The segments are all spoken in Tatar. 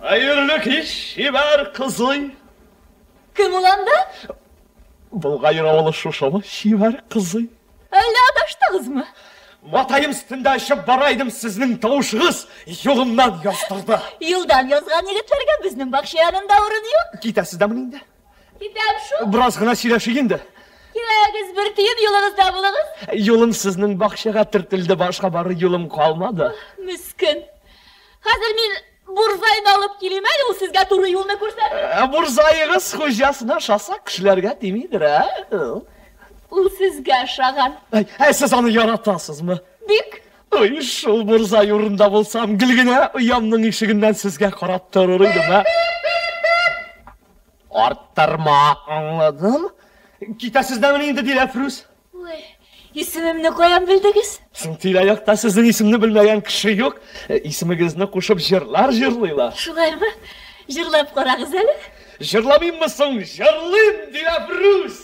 Хәерле кич, чибәр кызый! Кем ул анда? Болгаер авылы шушымы, чибәр кызый? Әллә адаштыгызмы? Матаем өстендә очып бара идем, сезнең тавышыгыз юлымнан яздырды. Юлдан язган егетләргә безнең бакча янында урын юк. Китәсез дә мени инде? Китәм шул. Бераз гына сөйләшик инде. Киләгез, бер тиен юлыгызда булыгыз. Юлым сезнең бакчага төртелде, башка бары юлым калмады. Мискен. Хәзер мин бурзайны алып килим әле, ул сезгә туры юлны күрсәтер. Ә бурзаегыз хуҗасына ошаса, кешеләргә тимидер, ә? Ул сезгә ошаган. Ә сез аны яратасызмы? Бик. Ой, шул Мурзай урында булсам, гел генә оямның ишегеннән сезгә карап торыр идем, ә? Арттырма, аңладым. Китәсез дә мени инде, Диләфрүз? Ой, исемемне каян белдегез? Соң тирә-якта сезнең исемне белмәгән кеше юк. Э, исемегезне кушып җырлар җырлыйлар. Шулаймы? Җырлап карагыз әле. Җырламыйммы соң? Җырлыйм, Диләфрүз!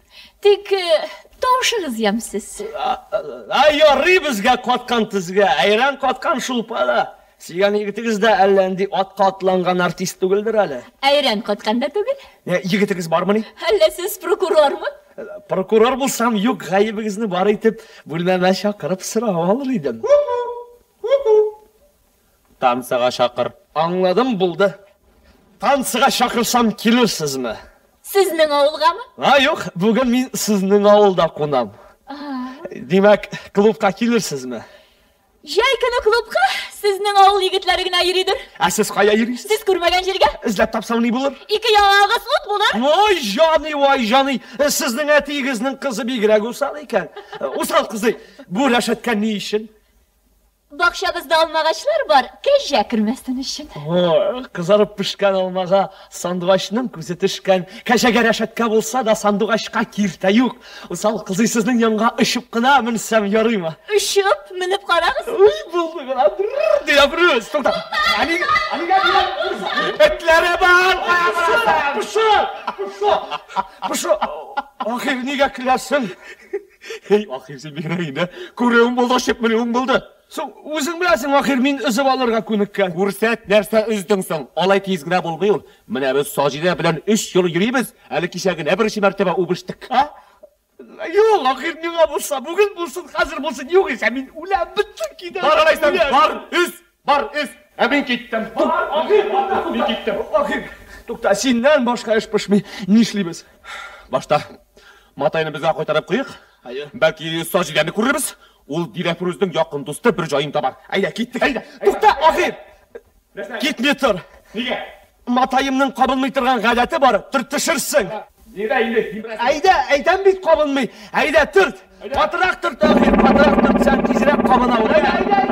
Тик тавышыгыз ямьсез. Ай, ярый безгә каткан тезгә, әйрән каткан шулпа да. Сөйгән егетегез дә әллә нинди атка атланган артист түгелдер әле. Әйрән каткан да түгел. Егетегез бармыни? Әллә сез прокурормы? Прокурор булсам, юк, гаебегезне бар итеп, бүлмәмә чакырып сорап алыр идем. Танцыга чакыр. Аңладым, булды. Танцыга чакырсам килерсезме? Сезнең авылгамы? А, юк, бүген мин сезнең авылда кунам. Димәк, клубка килерсезме? Җәй көне клубка сезнең авыл егетләре генә йөридер. Ә сез кая йөрисез? Сез күрмәгән җиргә. Эзләп тапсаң ни булыр? Ике яңагыгыз ут булыр. Вай җаный, вай җаный! Сезнең әтиегезнең кызы бигрәк усал икән. Усал кызый, бу рәшәткә ни өчен? Бакчабызда алмагачлар бар, кәҗә кермәсен өчен. О, кызарып пешкән алмага сандугачның күзе төшкән. Кәҗәгә рәшәткә булса да, сандугачка киртә юк. Усал кызый, сезнең янга очып кына менсәм ярыймы? Очып, менеп карагыз. Уй, булды гына, бр-р-р! Ди Әбрүз. Тукта. Ә нигә, ә нигә дигән? Этләре бар, кая барасың? Пошо! Пошо! Пошо! Ахир, нигә көләсең? Эй, ахир, син бигрәк инде. Күрүең булды, очып менүең булды. Соң, үзең беләсең, ахир, мин өзеп алырга күнеккән. Күрсәт, нәрсә өздең соң? Алай тиз генә булмый ул. Менә без Саҗидә белән өч ел йөрибез, әле кичә генә беренче мәртәбә үбештек. А? Юк, ахир, миңа булса, бүген булсын, хәзер булсын, югыйсә мин үләм, беттем, китәм. Бар, алайса, бар, өз! Бар, өс! Ә мин киттем! Мин киттем! Тукта, синнән башка эш пешми. Нишлибез? Башта матайны безгә кайтарып куйыйк. Әйе. Бәлки саҗ идәнне күрербез. Ул Диләфрүзнең якын дусты бер җаен табар. Әйдә, киттек, әйдә. Тукта, ахир! Китми тор. Нигә? Матаемның кабынмый торган гадәте бар, төртешерсең. Бир әле, димәдем. Әйдә, әйтәм бит, кабынмый. Әйдә, төрт. Катырак төрт, Әмир, катырак төртсәң, тизрәк кабына ул. Әйдә, әйдә, әйдә!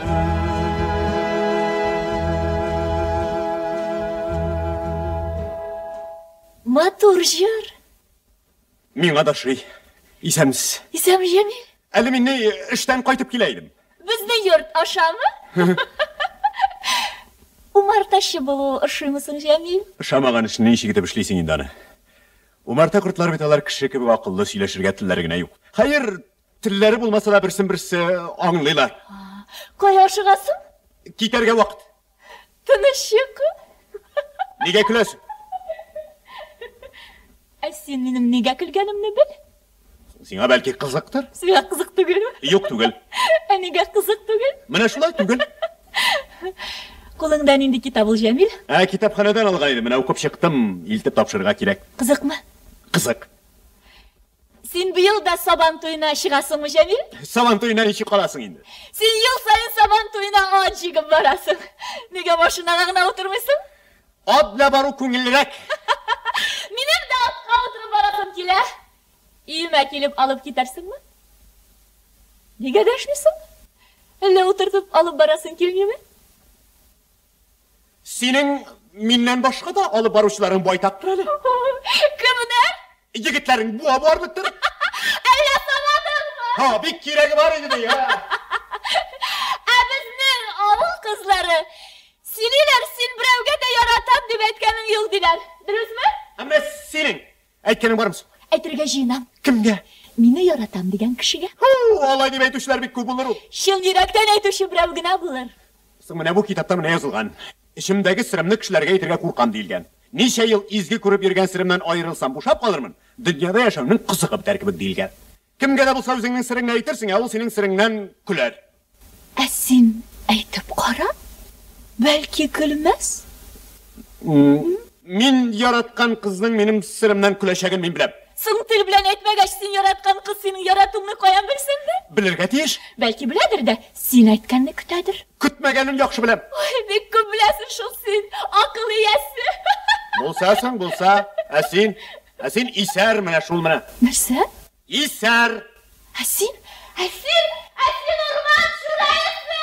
Матур җыр. Миңа да шый. Исәмс. Исәм җәми. Әле мин эштән кайтып килә идем. Безне йорт ашамы? Умартачы булу ошыймы соң, Җәмил? Ошамаган эшне ничек итеп эшлисең инде аны? Умарта кортлар бит алар кеше кебек акыллы, сөйләшергә телләре генә юк. Хәер, Телләре булмаса да берсен-берсе аңлыйлар. Кая ашыгасың? Китәргә вакыт. Тыныч йокы. Нигә көләсең? Ә син минем нигә көлгәнемне бел. Сиңа бәлки кызыктыр? Сиңа кызык түгелме? Юк түгел. Ә нигә кызык түгел? Менә шулай түгел. Кулыңда нинди китап ул, Җәмил? Ә китапханәдән алган идем, менә укып чыктым. Илтеп тапшырырга кирәк. Кызыкмы? Кызык. Син быел да сабан туена чыгасыңмы, Җәмил? Сабан туена ничек каласың инде? Син ел саен сабан туена ат җигеп барасың. Нигә машинага гына утырмыйсың? Ат белән бару күңеллерәк. Минем дә атка утырып барасым килә. Өемә килеп алып китәрсеңме? Нигә дәшмисең? Әллә утыртып алып барасың килмиме? Синең миннән башка да алып баручыларың байтактыр әле. Кемнәр? Егетләрең буа барлыктыр. Әллә санадыңмы? Ха, бик кирәге бар иде бия. Ә безнең авыл кызлары сөйлиләр, син берәүгә дә яратам дип әйткәнең юк диләр. Дөресме? Әмма синең Әйткәнең бармы соң? Әйтергә җыенам. Кемгә? Мине яратам дигән кешегә. Һу, алай дип әйтүчеләр бик күп булыр ул. Чын йөрәктән әйтүче берәү генә булыр. Соң менә бу китапта менә язылган. Эчемдәге серемне кешеләргә әйтергә куркам, диелгән. Ничә ел изге күреп йөргән серемнән аерылсам, бушап калырмын. Дөньяда яшәүнең кызыгы бетәр кебек, диелгән. Кемгә дә булса үзеңнең сереңне әйтерсең, ә ул синең сереңнән көләр. Ә син әйтеп кара, бәлки көлмәс? М. Мин яраткан кызның минем серемнән көләчәген мин беләм. Соң тел белән әйтмәгәч, син яраткан кыз синең яратуыңны каян белсен дә? Белергә тиеш. Бәлки беләдер дә, син әйткәнне көтәдер. Көтмәгәнен яхшы беләм. Ой, бик күп беләсең шул син, акыл иясе! Булса соң, булса. Ә син? Ә син исәр менә шул менә. Нәрсә? Исәр! Ә син? Ә син? Ә син урман чүрәлесе!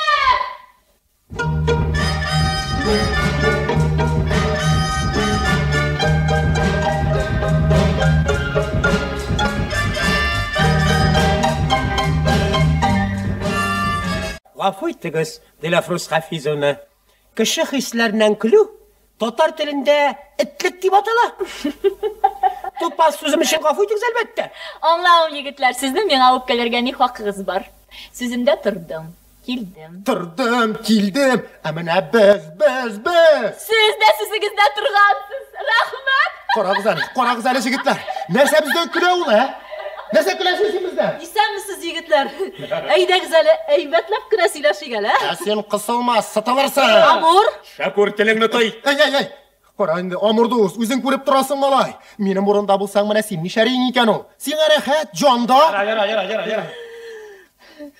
Гафу итегез, Диләфрүз Хафизовна. Кеше хисләреннән көлү татар телендә этлек дип атала. Тупас сүзем өчен гафу итегез, әлбәттә. Аңлавым, егетләр, сезнең миңа үпкәләргә ни хакыгыз бар? Сүземдә тордым, килдем. Тордым, килдем, ә менә без, без, без! Сез дә сүзегездә торгансыз! Рәхмәт! Карагыз әле, карагыз әле, җегетләр. Нәрсә бездә көлә ул, ә? Нәрсә көләсез син бездән? Исәнмесез, егетләр. Әйдәгез әле, әйбәтләп кенә сөйләшик әле. Ә син кысылма, сытылырсың. Амур. Шәкүр, телеңне той. Әй, әй, әй. Кара инде, Амур дус, үзең күреп торасың, малай. Минем урында булсаң, менә син нишәриң икән ул? Сиңа рәхәт, җанда. Йәра, йәра, йәра, йәра.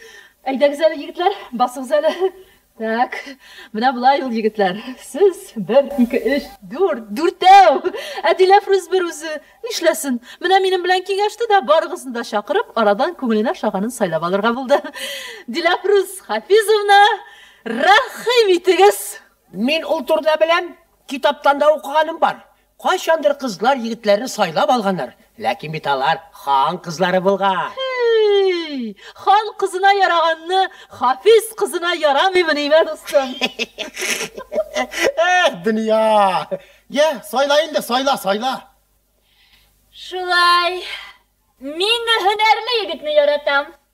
Әйдәгез әле, егетләр, басыгыз әле. Так, менә болай ул, егетләр. Сез, бер, ике, өч, дүрт, дүртәү! Ә Диләфрүз бер үзе нишләсен? Менә минем белән киңәште дә, барыгызны да чакырып, арадан күңеленә ошаганын сайлап алырга булды. Диләфрүз Хафизовна, рәхим итегез! Мин ул турыда беләм, китаптан да укыганым бар. Кайчандыр кызлар егетләрне сайлап алганнар, ләкин бит алар хан кызлары булган. Һей! Хан кызына яраганны Хафиз кызына ярамыймыни мә, дустым? Эх, дөнья! Йә, сайла инде, сайла, сайла! Шулай. Мин һөнәрле егетне яратам.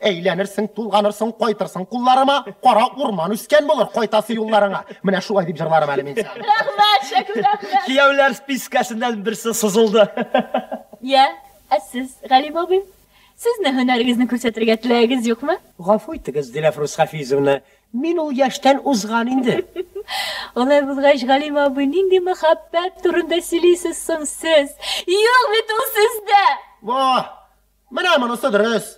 Әйләнерсең, тулганырсың, кайтырсың кулларыма, кара урман үскән булыр, кайтасы юлларыңа. Менә шулай дип җырларым әле мин сиңа. Рәхмәт, Шәкүр, рәхмәт. Кияүләр спискәсеннән берсе сызылды. Я, ә сез, Галим абый? Сезне һөнәрегезне күрсәтергә теләгегез юкмы? Гафу итегез, Диләфрүз Хафизовна, мин ул яшьтән узган инде. Алай булгач, Галим абый, нинди мәхәббәт турында сөйлисез соң сез? Юк бит ул сездә! Ваһ! Менә монысы дөрес.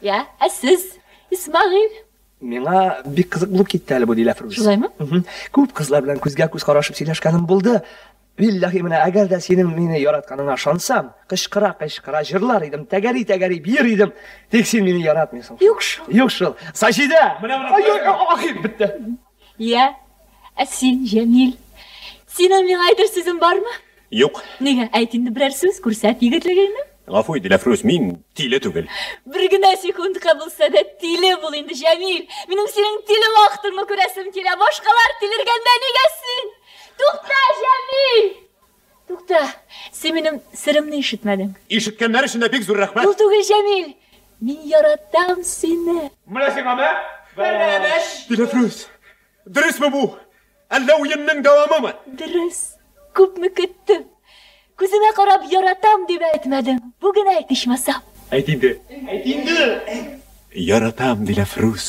Я, ә сез, Исмәгыйль? Миңа бик кызык булып китте әле бу, ди Ләфрүз. Шулаймы? Мхм. Күп кызлар белән күзгә-күз карашып сөйләшкәнем булды. Билләһи, менә әгәр дә синең мине яратканыңа ышансам, кычкыра-кычкыра җырлар идем, тәгәри-тәгәри биер идем. Тик син мине яратмыйсың шул. Юк шул. Юк шул. Саҗидә! Менә, менә, кая? Ай-ай-ай, ахир, бетте. Йә, ә син, Җәмил? Синең миңа әйтер сүзең бармы? Юк. Нигә? Әйт инде берәр сүз, күрсәт егетлегеңне. Гафу ит, Диләфрүз, мин тиле түгел. Бер генә секундка булса да тиле бул инде, Җәмил! Минем синең тиле вахтыңны күрәсем килә! Башкалар тилергәндә, нигә син? Тукта, Җәмил! Тукта, син минем серемне ишетмәдең. Ишеткәннәр өчен дә бик зур рәхмәт! Ул түгел, Җәмил! Мин яратам сине! Менә сиңа мә, бәрәбәч! Диләфрүз, дөресме бу, әллә уенның дәвамымы? Дөрес. Күпме көттем. Күземә карап яратам дип әйтмәдең. Бүген әйт, ичмасам. Әйт инде. Әйт инде! Яратам, Диләфрүз.